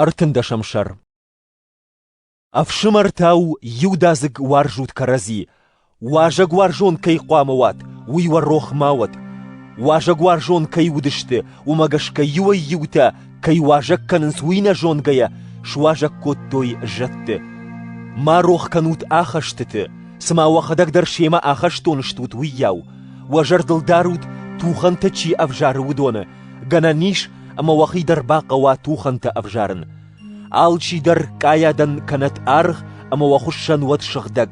Ӕртындӕсӕм сӕр Ӕфсымӕртӕ у иудадзыг уарзут кӕрӕдзи, Уазӕгуарзон кӕй хъуамӕ уат, уый уӕ рох ма уӕд. Уазӕгуарзон кӕй уыдысты, уымӕ гӕсгӕ иуӕй-иутӕ кӕй уазӕг кӕнынц, уый нӕ зонгӕйӕ суазӕг кодтой зӕдты. Ма рох кӕнут ахӕстыты, цыма уӕхӕдӕг дӕр семӕ ахӕстон стут, уыйау. Уӕ зӕрдыл дарут, тухӕнтӕ чи ӕвзары, уыдоны, Гӕнӕн ис, ӕмӕ уӕхи дӕр бахъӕуа тухӕнтӕ ӕвзарын. Алчи дӕр къайадӕн кӕнӕт аргъ, ӕмӕ уӕ хуыссӕн уӕд сыгъдӕг.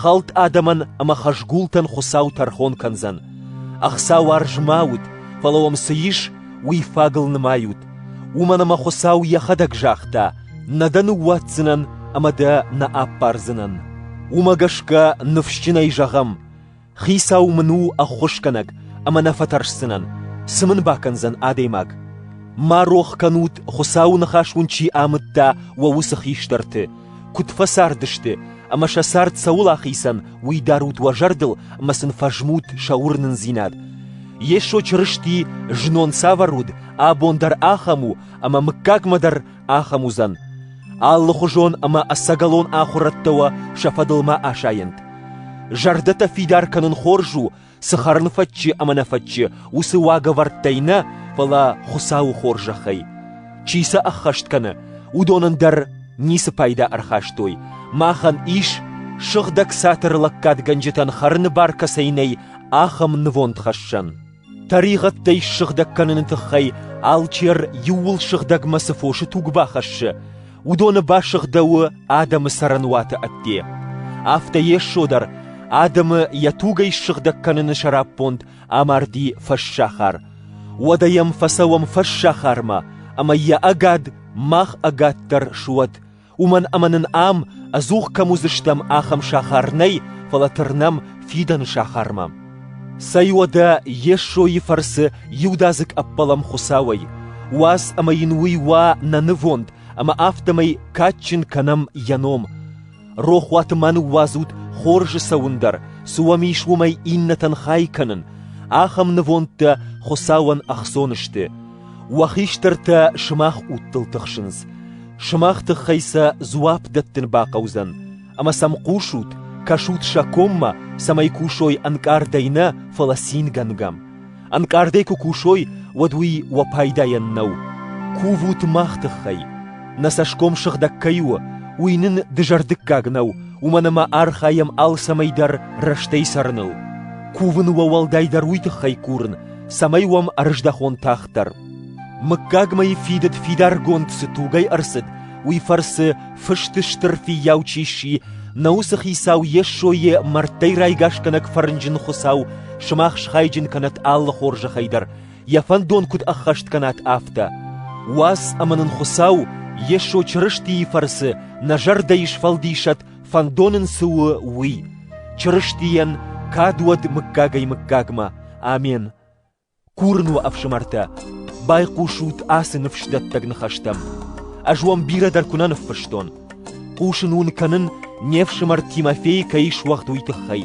Хӕлд адӕмӕн ӕмӕ хӕзгултӕн Хуыцау тӕрхон кӕндзӕн. Ӕхцауарз ма ут, фӕлӕ уӕм цы ис, уый фагыл нымайут. Уымӕн ӕмӕ Хуыцау йӕхӕдӕг загъта: «Нӕ дӕ ныууадздзынӕн ӕмӕ дӕ нӕ аппардзынӕн». Уымӕ гӕсгӕ ныфсджынӕй зӕгъӕм: Хицау мын у ӕххуысгӕнӕг, ӕмӕ нӕ фӕтӕрсдзынӕн, цы мын бакӕндзӕн адӕймаг? Ма рох кӕнут, Хуыцауы ныхас уын чи амыдта уӕ уыцы хистӕрты, куыд фӕцардысты, ӕмӕ сӕ цард цӕуыл ахицӕн, уый дарут уӕ зӕрдыл ӕмӕ сын фӕзмут сӕ уырнындзинад. Йесо Чырысти знон цавӕр уыд, абон дӕр ахӕм у, ӕмӕ мыггагмӕ дӕр ахӕм уыдзӕн, алыхуызон ӕмӕ ӕцӕгӕлон ахуырӕдтӕ уӕ сӕ фӕдыл ма асайӕнт. Зӕрдӕтӕ фидар кӕнын хорз у, цы хӕрын фӕччы ӕмӕ нӕ фӕччы, уыцы уагӕвӕрдтӕй нӕ, фӕлӕ Хуыцауы хорзӕхӕй. Чи сӕ ӕххӕст кӕны, уыдонӕн дӕр ницы пайда ӕрхастой. Махӕн ис, сыгъдӕг цатыр лӕггадгӕнджытӕн хӕрыны бар кӕцӕй нӕй, ахӕм нывонд хӕссӕн. Тӕригъӕдтӕй ссыгъдӕг кӕныны тыххӕй алчер иууыл сыгъдӕгмӕ цы фосы туг бахӕссы, уыдоны басыгъдӕуы адӕмы цӕрӕнуаты ӕдде. Афтӕ Йесо дӕр адӕмы йӕ тугӕй ссыгъдӕг кӕныны сӕраппонд амарди фӕссахар. Уӕдӕ йӕм фӕцӕуӕм фӕссахармӕ, ӕмӕ йӕ ӕгад мах ӕгаддӕр суӕд, уымӕн ӕмӕ нын ам ӕдзух кӕм уыдзыстӕм, ахӕм сахар нӕй, фӕлӕ тырнӕм фидӕны сахармӕ. Цӕй уӕдӕ Йесойы фӕрцы иудадзыг ӕппӕлӕм Хуыцауӕй, уадз ӕмӕ йын уый уа нӕ нывонд, ӕмӕ афтӕмӕй кадджын кӕнӕм йӕ ном. Рохуаты ма ныууадзут хорзы цӕуын дӕр, цы уӕм ис уымӕй иннӕтӕн хай кӕнын. Ахӕм нывондтӕ Хуыцауӕн ӕхцон сты. Уӕ хистӕртӕ сымах удтыл тыхсынц, сымах тыххӕй сӕ дзуапп дӕттын бахъӕудзӕн, ӕмӕ сӕм хъусут, кӕсут сӕ коммӕ, цӕмӕй кусой ӕнкъардӕй нӕ, фӕлӕ цингӕнгӕм. Ӕнкъардӕй куы кусой, уӕд уый уӕ пайдайӕн нӕу. Кувут мах тыххӕй. Нӕ цӕсгом сыгъдӕг кӕй у, уый нын дызӕрдыггаг нӕу, уымӕн ӕмӕ архайӕм алцӕмӕй дӕр рӕстӕй цӕрыныл. Кувын уӕ уӕлдайдӕр уый тыххӕй курын, цӕмӕй уӕм ӕрыздӕхон тагъддӕр. Мыггагмӕ фидыд фидаргонд цы тугӕй ӕрцыд, уый фӕрцы фысты стыр фиййау чи сси, нӕ уыцы хицау Йессойы мӕрдтӕй райгасгӕнӕг фӕрнджын Хуыцау сымах схайджын кӕнӕт алы хорзӕхӕй дӕр, йӕ фӕндон куыд ӕххӕст кӕнат, афтӕ. Уац ӕмӕ нын Хуыцау Йесо Чырыстийы фӕрцы нӕ зӕрдӕйы сфӕлдисӕт фӕндон ын цы у, уый. Чырыстийӕн кад уӕд мыггагӕй-мыггагмӕ. Амен. Курын уӕ, ӕфсымӕртӕ, байхъусут ацы ныфсдӕттӕг ныхӕстӕм. Ӕз уӕм бирӕ дӕр куы нӕ ныффыстон. Хъусын уын кӕнын, не фсымӕр Тимофей кӕй суӕгъд, уый тыххӕй.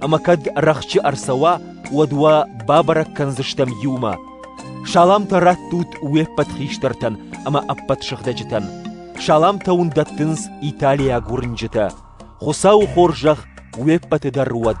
Ӕмӕ кӕд рӕхджы ӕрцӕуа, уӕд уӕ бабӕрӕг кӕндзыстӕм иумӕ. Саламтӕ раттут уе ппӕт хистӕртӕн ӕмӕ ӕппӕт сыгъдӕджытӕн. Саламтӕ уын дӕттынц италиаг уырнджытӕ. Хуыцауы хорзӕх уе ппӕты дӕр уӕд!